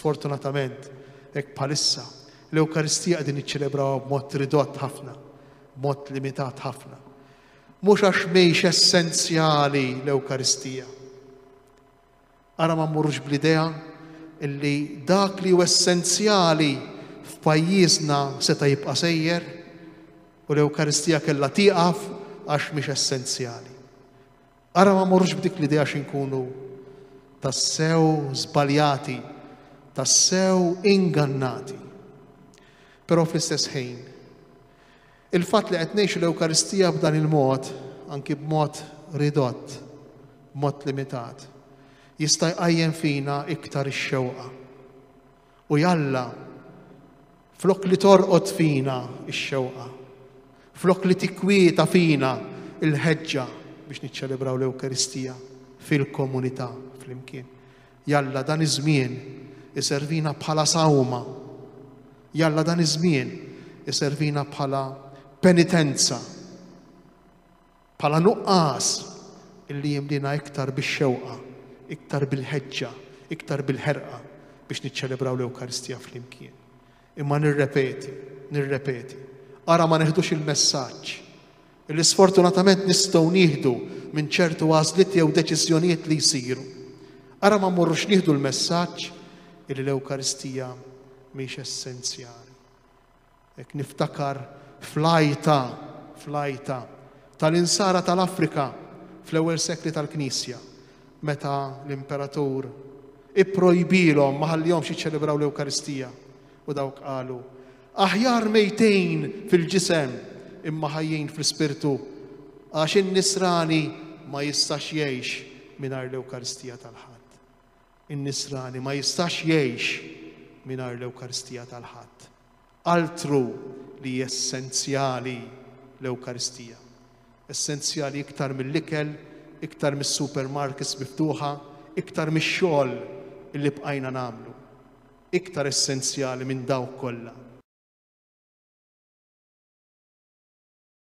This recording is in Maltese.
Fortunatament, hekk bħalissa, l-Ewkaristija qegħdin niċċelebrawha b'mod ridott ħafna, b'mod limitat ħafna. Mhux għax mhix essenzjali l-Ewkaristija. Ara ma mmorrux bl-idea li dak li hu essenzjali f'pajjiżna seta' jibqa' sejjer u l-Ewkaristija kellha tieqaf għax mhix essenzjali. Ara ma mmorrux b'dik l-idea xi nkunu tassew żbaljati, tassew ingannati. Però fl-istess ħin, Il-fatt li qed ngħixu l-Ewkaristija b'dan il-mod, anki b'mod ridott, b'mod limitat, jista' jqajjem fina iktar ix-xewqa. U jalla, flok li torqod fina x-xewqa, flok li tikkwieta fina il-ħeġġa biex niċċelebraw l-Ewkaristija fil-komunità flimkien. Jalla dan iż-żmien iservina bħala sawma. Jalla dan iż-żmien iservina bħala penitenza, bħala nuqqas illi jimlina iktar bix-xewqa, iktar bil-ħeġġa, iktar bil-ħerqa biex niċċelebraw l-Ewkaristija flimkien. Imma nirrepeti, nirrepeti, ara ma neħdux il-messaġġ li sfortunatament nistgħu nieħdu minn ċertu għażliet jew deċiżjonijiet li jsiru. Ara ma mmorrux nieħdu l-messaġġ li l-Ewkaristija mhix essenzjali. Ek niftakar flajta, flajta tal-insara tal-Afrika fl-ewwel sekli tal-Knisja. meta l-imperatur ipprojbilhom ma ħallihomx jiċċelebraw l-Ewkaristija u dawk qalu aħjar mejtejn fil-ġisem imma ħajjin fl-ispirtu għax in-nisrani ma jistax jgħix mingħajr l-Ewkaristija tal-Ħadd. In-nisrani ma jistax jgħix mingħajr l-Ewkaristija tal-Ħadd. Altru li essenzjali l-Ewkaristija. Essenzjali iktar mill-ikel, iktar mis-supermarkets miftuħa, iktar mix-xogħol li bqajna nagħmlu. Iktar essenzjali minn dawk kollha.